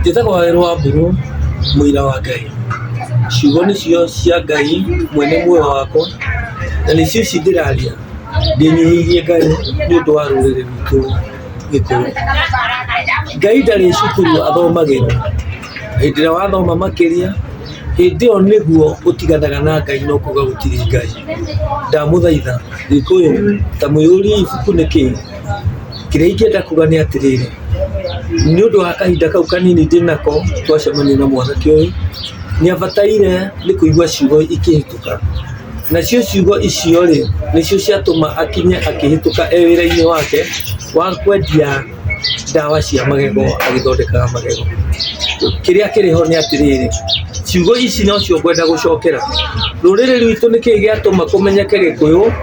Njĩtagwo Wawerũ wa Mbũrũ, mũira wa Ngai. Ciugo nĩcio cia Ngai mwene muoyo wakwa, na nĩcio ici ndĩraria, ndĩnyihĩirie Ngai nĩ ũndũ wa rũrĩrĩ rwitũ Gĩkũyũ. Ngai ndarĩ cukuru athomagĩrwo, hĩndĩ ĩrĩa wathoma makĩria, hĩndĩ ĩyo nĩguo ũtiganaga na Ngai na ũkauga gũtirĩ Ngai. Ndamũthaitha Gĩkũyũ, ta mũihũrie ibuku nĩkĩ? Kĩrĩa ingĩenda kuga nĩ atĩrĩrĩ, nĩ ũndũ wa kahinda kau kanini ndĩnako twacemania na mwanake ũyũ, nĩ abataire nĩ kũigua ciugo ikĩhĩtũka. Nacio ciugo icio rĩ, nĩcio ciatũma akinye akĩhĩtũka e wĩra-inĩ wake wa kwendia ndawa cia magego agĩthondekaga magego. Kĩrĩa kĩrĩ ho nĩ atĩrĩrĩ, ciugo ici nocio ngwenda gũcokera, rũrĩrĩ rwitũ nĩkĩĩ gĩatũma kũmenyeke Gĩkũyũ?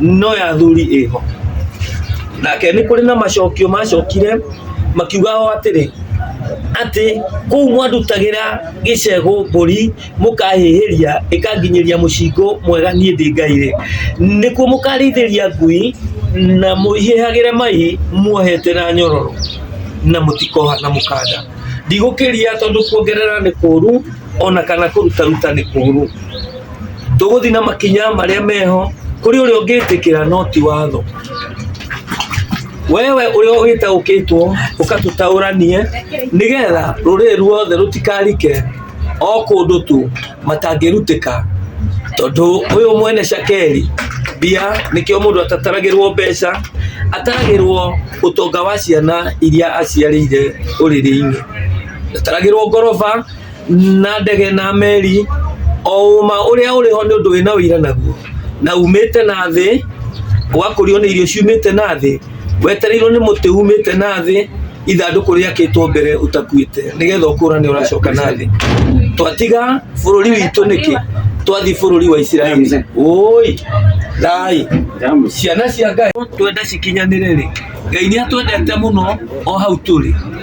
no ya thuri ĩho nake nĩ kũrĩ na macokio macokire makiuga o atĩrĩ atĩ kũu mwandutagĩra gĩcegũ mbũri mũkahĩhĩria ĩkanginyĩria mũcingo mwega niĩ ndĩ ngai rĩ nĩkuo mũkarĩithĩria ngui na mũihĩhagĩre mai muohete na nyororo na mũtikoha na mũkanda ndigũkĩria tondũ kuongerera nĩ kũru ona kana kũrutaruta nĩ kũru tũgũthiĩ na makinya marĩa meho kũrĩ ũrĩa ũngĩtĩkĩra no ti watho wewe ũrĩa wĩtaũkĩtwo ũkatũtaũranie nĩgetha rũrĩrĩ ruothe rũtikarike o kũndũ tu matangĩrutĩka tondũ ũyũ mwene cakeri mbia nĩkĩo mũndũ atataragĩrwo mbeca ataragĩrwo ũtonga wa ciana iria aciarĩire ũrĩrĩ-inĩ ataragĩrwo ngoroba na ndege na meri o ũma ũrĩa ũrĩ ho nĩ ũndũ wĩna ũira naguo na umĩte na thĩ ũgakũrio nĩ irio ciumĩte na thĩ wetereirwo nĩ mũtĩ umĩte na thĩ ithandũkũ rĩakĩtwo mbere ũtakuĩte nĩgetha ũkũrane ũracoka na thĩ twatiga bũrũri witũ nĩkĩ twathi bũrũri wa isiraeli ũi thai ciana cia ngai twenda cikinyanĩre rĩ ngai nĩ atwendete mũno o hau tũrĩ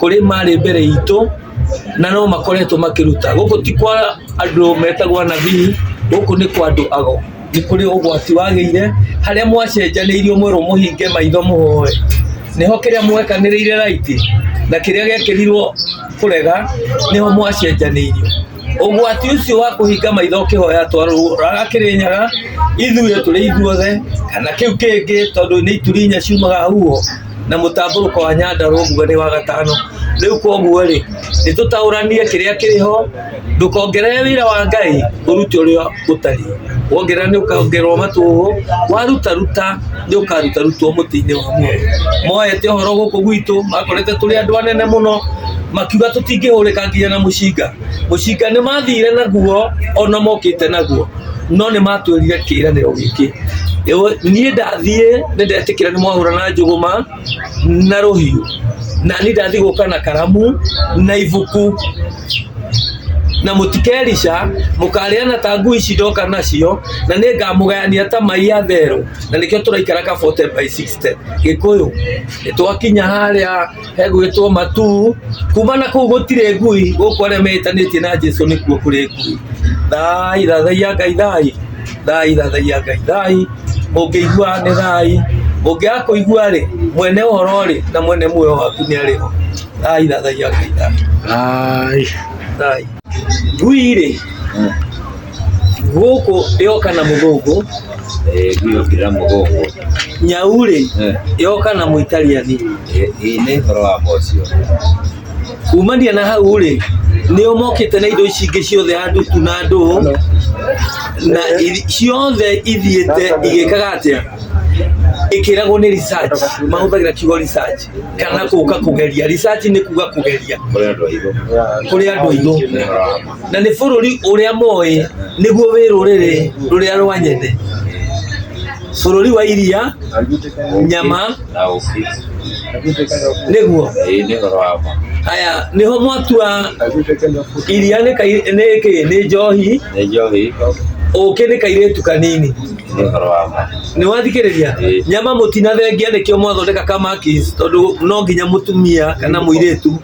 kũrĩ marĩ mbere itũ na no makoretwo makĩruta. Gũkũ ti kwa andũ metagwo anabii, gũkũ nĩ kwa andũ ago. Nĩ kũrĩ ũgwati wagĩire, harĩa mwacenjanĩirio mwerwo mũhinge maitho mũhoe. Nĩho kĩrĩa mwekanĩrĩire right na kĩrĩa gĩekĩrirwo kũrega nĩho mwacenjanĩirio. Ũgwati ũcio wa kũhinga maitho ũkĩhoya atwarwo raga Kĩrĩnyaga, ithuĩ tũrĩ ithuothe kana kĩu kĩngĩ tondũ nĩ ituri inya ciumaga huho. na mũtambũrũko wa nyandarũa nguga nĩ wa gatano rĩu koguo rĩ nĩ tũtaũranie kĩrĩa kĩrĩho ndũkongerere wĩra wa ngai ũrute ũrĩa ũtari wongerera nĩ ũkongererwo matũhũ warutaruta nĩ ũkarutarutwo mũtĩ-inĩ wa muoyo moete ũhoro gũkũ gwitũ makorete tũrĩ andũ anene mũno makiuga tũtingĩhũrĩka nginya na mũcinga Mũcinga nĩ mathire naguo ona mokĩte naguo no nĩ matwĩrire kĩĩranĩro gĩkĩ Ĩwe- niĩ ndathiĩ nĩ ndetĩkĩra nĩ mwahũra na njũgũma na rũhiũ na niĩ ndathiĩ gũka na karamu na ibuku na mũtikerica mũkarĩana ta ngui ici ndoka nacio na nĩ ngamũgayania ta mai ya therũ na nĩkĩo tũraikara kabote by 60 gĩkũyũ nĩ twakinya harĩa egwĩtwo matu kuma na kũu gũtirĩ ngui gũkũ arĩa metanĩtie na jesu nĩkuo kũrĩ ngui thai thathaia ngai thai thai thathaia ngai thai mũngĩigua nĩ thai mũngĩaga kũigua rĩ mwene ũhoro rĩ na mwene muoyo waku nĩ arĩ ho thai thathaia ngai thai Ai. thai ngui rĩ gũkũ yoka na mũthũngũ Eh, hiyo kila mgongo. nyaurĩ Eh, yoka na mũitaliani eh, hii ni horo wa mocio. kumania na hau rĩ nĩo mokĩte na indo ici ingĩ ciothe handũ tu na ndũũ na ithi- ciothe ithiĩte igĩkaga atĩa ĩkĩragwo nĩ research mahũthagĩra kiugo research kana kũka kũgeria research nĩ kuga kũgeria Kule ndo hivyo. kũrĩ andũ aitũ Ni horo wa na nĩ bũrũri ũrĩa moĩ nĩguo wĩ rũrĩrĩ rũrĩa rwanyende bũrũri wa iria nyama na ũkĩ nĩguo ĩĩ nĩ ũhoro wa ma haya nĩho mwatua iria nĩ kai- nĩ kĩ nĩ njohi nĩ njohi ũkĩ nĩ kairĩtu kanini nĩ ũhoro wa ma nĩ wathikĩrĩria Ĩĩ. nyama mũtinathengia nĩkĩo mwathondeka kamakis tondũ no nginya mũtumia kana mũirĩtu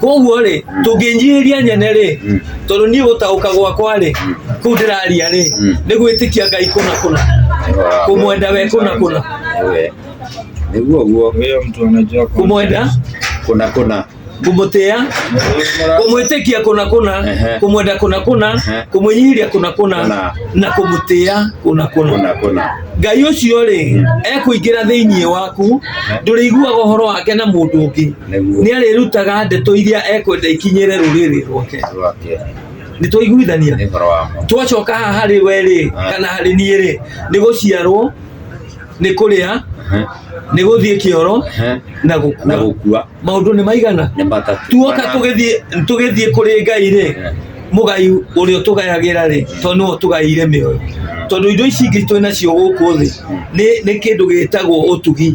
koguo rĩ tũngĩnyihĩria nyene rĩ tondũ niĩ gũtaũka gwakwa rĩ kũu ndĩraria rĩ nĩ gwĩtĩkia ngai kũna kũna kũmwenda we kũna kũna nĩguo ũguo Huyo mtu anajua kwa- kũmwenda kũna kũna kũmũtĩa kũmwĩtĩkia kũna kũna Ehe. kũmwenda kũna kũna Ehe. kũmwĩnyihĩria kũna kũna Kũna. na kũmũtĩa kũna kũna kũna kũna ngai ũcio rĩ ekũingĩra thĩinĩ waku ndũrĩiguaga ũhoro wake na mũndũ ũngĩ nĩ arĩrutaga ndeto iria ekwenda ikinyĩre rũrĩrĩ rwake rwake nĩ twaiguithania nĩ ũhoro wa ma twacoka haha harĩ we rĩ kana harĩ niĩ rĩ nĩ gũciarwo nĩ kũrĩa Ehe, nĩ gũthiĩ kĩoro ehe, na na gũkua gũkua maũndũ nĩ maigana nĩ matatũ tuoka Kana- tũgĩthiĩ tũgĩthiĩ kũrĩ ngai rĩ Eh, mũgai ũrĩa ũtũgayagĩra rĩ tondũ nĩwe ũtũgaĩire mĩoyo tondũ indo ici ingĩ twĩ nacio gũkũ thĩ nĩ nĩ kĩndũ gĩtagwo ũtugi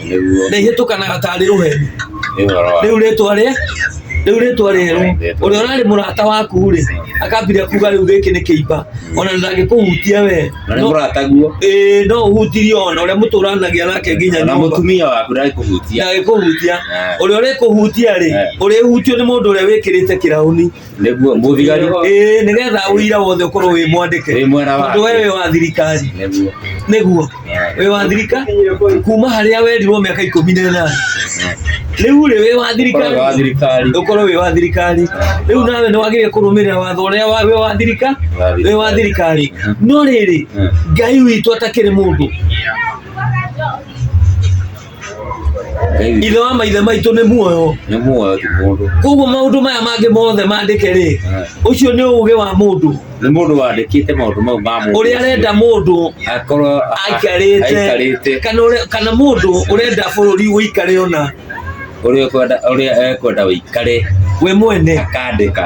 nĩguo na ihĩtũkanaga tarĩ rũheni nĩ ũhoro wa rĩu rĩtwa rĩ rĩu rĩtwa rĩerũ ũrĩa ũrarĩ mũrata waku rĩ akambire kuga rĩu gĩkĩ nĩ kĩimba ona ndangĩkũhutia we na nĩ no- mũrata guo ĩĩ, no ũhutirie ona ũrĩa mũtũranagia nake nginya na nyũmba mũtumia waku ndagĩkũhutia ndagĩkũhutia Eh. ũrĩa ũrĩkũhutia rĩ Eh. ũrĩhutio nĩ mũndũ ũrĩa wĩkĩrĩte kĩrauni nĩguo mũthigari ĩĩ nĩgetha ũira wothe ũkorwo wĩ mwandĩke wĩ mwena tondũ wake we wĩ wa thirikari nĩguo nĩguo wĩ wa thirika kuma harĩa werirwo mĩaka ikũmi na ĩnana rĩu rĩ wĩ wa ũkoragwo wa thirikari thirikari ũkorwo wĩ wa thirikari rĩu nawe nĩ wagĩrĩire kũrũmĩrĩra watho ũrĩa wa- wĩ wa thirika wĩ wa thirikari no rĩrĩ ngai witũ atakĩrĩ mũndũ Ngai ithe wa maithe maitũ nĩ muoyo nĩ muoyo ti mũndũ koguo maũndũ maya mangĩ mothe mandĩke rĩ Ah. ũcio nĩ ũgĩ wa mũndũ nĩ mũndũ wandĩkĩte maũndũ mau ma mũndũ ũrĩa arenda mũndũ akorwo aikarĩte aikarĩte kana ũrĩa- kana mũndũ ũrenda bũrũri ũikare ona ũrĩa ũkwenda ũrĩa ekwenda ũikare we mwene akandĩka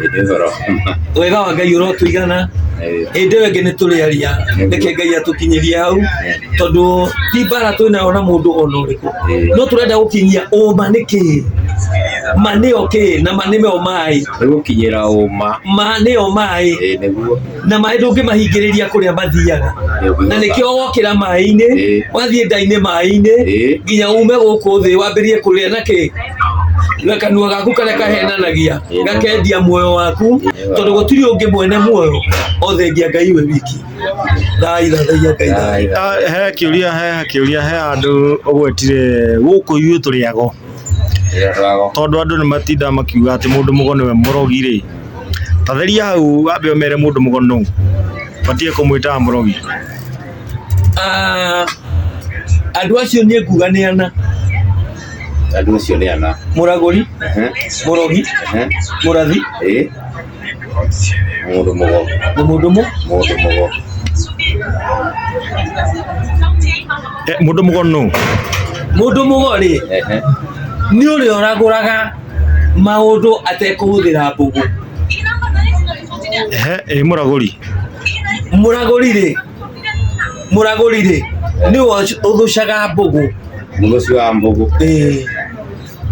Hĩndĩ ĩyo ũrokoma. wega wa ngai ũrotũigana Eh, hĩndĩ ĩyo ĩngĩ nĩ tũrĩaria reke ngai atũkinyĩrie hau tondũ ti mbara twĩ nayo na mũndũ ona ũrĩkũ no tũrenda gũkinyia ũma nĩ kĩĩ ma nĩyo kĩĩ na ma nĩyo maĩ Nĩgũkinyĩra ũma. ma nĩyo maĩ Eh, nĩguo. na maĩ ndũngĩmahingĩrĩria kũrĩa mathiaga na nĩkĩo wokĩra maĩ-inĩ Ĩĩ. wathiĩ ndainĩ maĩ-inĩ Ĩĩ. nginya ume gũkũ thĩ wambĩrĩrie kũrĩa na kĩ na kanua gaku karĩa kahenanagia Ĩĩ. gakendia muoyo waku Ĩĩ. tondũ gũtirĩ ũngĩ mwene muoyo othengia ngai we wiki thai thathaia ngai thai Ah, he kiuria he kiuria he andå å gwetire gå kå ithuä tå rä ago tondå andå nä matindaga makiuga atä må ndå må go nä we må rogi rä ta theria hau wambe ũmere mũndũ mũgoni nũ batiĩ kũmwĩta mũrogi Ah, andũ acio niĩ nguga nĩ ana andå acio nä ana mũragũri Ehe, mũrogi ehe, mũrathi ĩ. må ndå må go na mũndũ mũ må ndå må go Eh, mũndũ mũgoni nũ mũndũ mũgorĩ nä å rä a å ragå raga maũndũ atekũhũthĩra mbũgũ ehe ĩ mũragũri mũragũri rĩ mũragũri rĩ nĩwe ũthũcaga mbũgũ mũthũci wa mbũgũ Ĩĩ.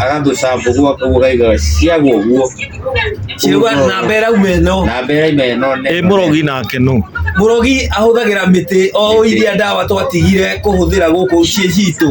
agathũca mbũgũ akauga aigaga ciagwa ũguo ciuga namba ĩrauma ĩno na mbere imeno ĩ mũrogi nake nũ mũrogi ahũthagĩra mĩtĩ o iria ndawa twatigire kũhũthĩra gũkũ ciĩ citũ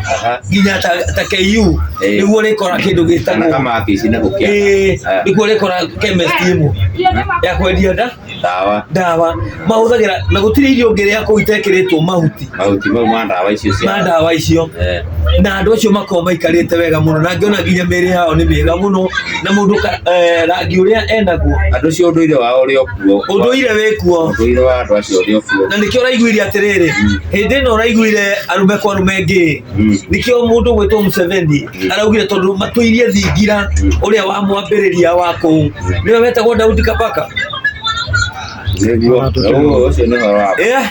Aha. nginya ta ta KU Eh. nĩguo ũrĩkora kĩndũ Kana gĩtagwo kama abici na gũkĩa. Eh, Ah. nĩguo ũrĩkora chemist ĩmwe ya kwendia nda Ndawa. ndawa mahũthagĩra na gũtirĩ irio ũngĩrĩa kũu itekĩrĩtwo mahuti Mahuti mau ma ndawa icio cia. ma ndawa icio Eh. na andå acio makorwo maikarĩte wega mũno na ngĩona nginya mĩrĩ yao nĩ mĩega mũno na mũndũ ka- eh, rangi ũrĩa enaguo Andũ cio ũndũire wao ũrĩ o ũndũire wĩkuo ũndũire wa andũ acio ũrĩ ũkuo na nĩkĩo ũraiguire atĩrĩrĩ hĩndĩ ĩno ũraiguire arũme kwa arũme ngĩ Mm. nĩkĩo mũndũ gwĩtwo Museveni araugire tondũ matũirie thingira ũrĩa wa mwambĩrĩria wa kũu nĩwe wetagwo Daudi Kabaka nĩguo Ũguo ũcio nĩ ũhoro wa Eh,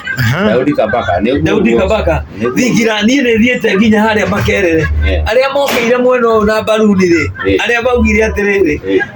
Daudi Kabaka nĩguo Daudi ũguo. Kabaka Nĩguo. thingira niĩ nĩ thiĩte nginya harĩa makerere Eh. arĩa mokĩire mwena ũyũ na mbaruni rĩ Eh. arĩa maugire atĩrĩrĩ Eh.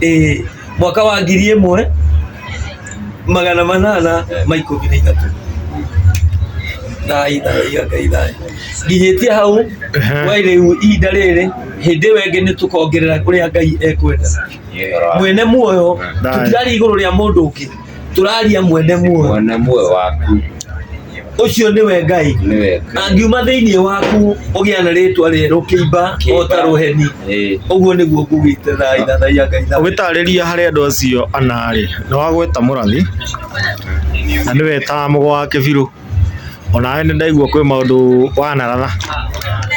eh, mwaka wa ngiri ĩmwe magana manana ma ikũmi na ithatũ thai thai ngai thai nginyĩtie hau we rĩu ihinda rĩrĩ hĩndĩ ĩyo ĩngĩ nĩ tũkongerera kũrĩa ngai ekwenda mwene muoyo tũtirari igũrũ rĩa mũndũ ũngĩ tũraria mwene muoyo mwene muoyo waku ũcio nĩwe ngai nĩwe Ngai. angiuma thĩinĩ waku ũgĩa na rĩtwa rĩerũ kĩimba o ta rũheni Ĩĩ. ũguo nĩguo ngugĩte thaa ithathaia ngai thaa ũgĩtarĩria harĩ andũ acio anarĩ nĩ wagweta mũrathi na nĩwe ta mũgo wa kĩbirũ Onawe nĩndaigua kwĩ maũndũ wanarara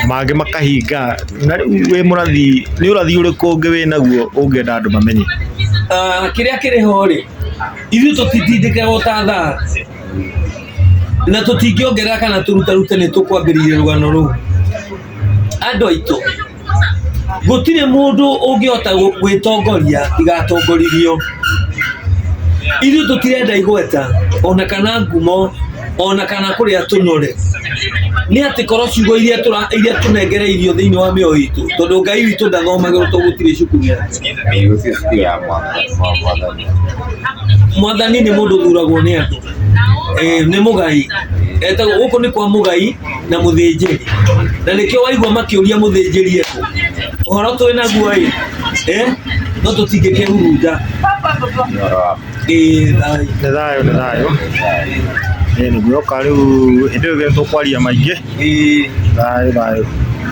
mangĩ makahinga na rĩu wĩ mũrathi nĩ ũrathi ũrĩkũ ũngĩ wĩnaguo ũngĩenda andũ mamenye? Ah, kĩrĩa kĩrĩ ho rĩ ithuĩ tũtitindĩkaga ũtathaa na tũtingĩongerera kana tũrutarute nĩ tũkwambĩrĩria rũgano rũu andũ aitũ gũtirĩ mũndũ ũngĩhota gwĩtongoria tiga atongorithio. Ithuĩ tũtirenda igweta ona kana ngumo ona kana kũrĩa tũnyore, nĩ atĩ korwo ciugo iria tũnengereirio thĩinĩ wa mĩoyo itũ, tondũ Ngai witũ ndathomagĩrwo tondũ gũtirĩ cukuru ya Mwathani nĩ mũndũ ũthuragwo nĩ andũ, nĩ mũgai, gũkũ nĩ kwa mũgai. na mũthĩnjĩri na nĩkĩo waigua makĩũria mũthĩnjĩri eko ũhoro twĩ naguo ĩ eh, no tũtingĩkĩhurunja ĩ thai nĩ thayũ nĩ thayũ ĩĩ nĩguoka rĩu hĩndĩ ĩyo gĩtũ kwaria maingĩ ĩ thayũ thayũ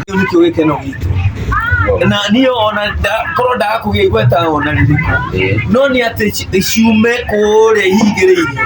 kĩu nĩkĩo gĩkeno gitũ na niĩ ona nda- korwo ndaga kũgĩa igweta ona rĩrĩkũ no nĩ atĩ ci- ciume kũrĩa ihingĩrĩirio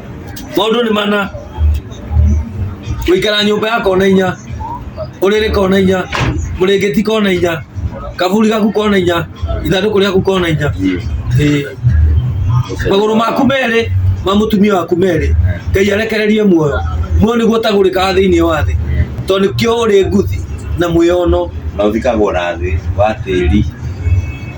maũndũ nĩ mana gũikara nyũmba ya kona inya ũrĩrĩ kona inya mũrĩngĩti kona inya kaburi gaku kona inya ithandũkũ rĩaku kona inya Ĩĩ. magũrũ maku merĩ ma mũtumia waku merĩ ngai arekererie muoyo muoyo nĩguo ũtagũrĩkaga thĩinĩ wa thĩ tondũ nĩkĩo ũrĩ nguthi na mwĩono na ũthikagwo na thĩ wa tĩri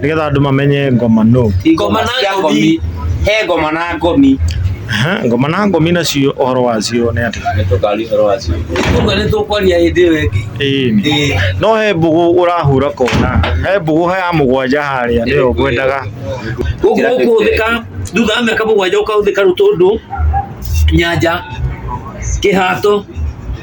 nĩgetha andũ mamenye ngoma no Ngoma na cia ngomi. He ngoma na ngomi. Aha, ngoma na ngomi nacio ũhoro wacio nĩ atĩ Nĩ tũkari ũhoro wacio. Ũguo nĩ tũkwaria hĩndĩ ĩyo ĩngĩ. ĩĩ nĩ. Ĩĩ. no he mbũgũ ũrahura kona he mbũgũ ya mũgwanja harĩa nĩyo ngwendaga Gũkũ gũkũhũthĩka thutha wa mĩaka mũgwanja gũkahũthĩka rũtũndũ, nyanja, kĩhato,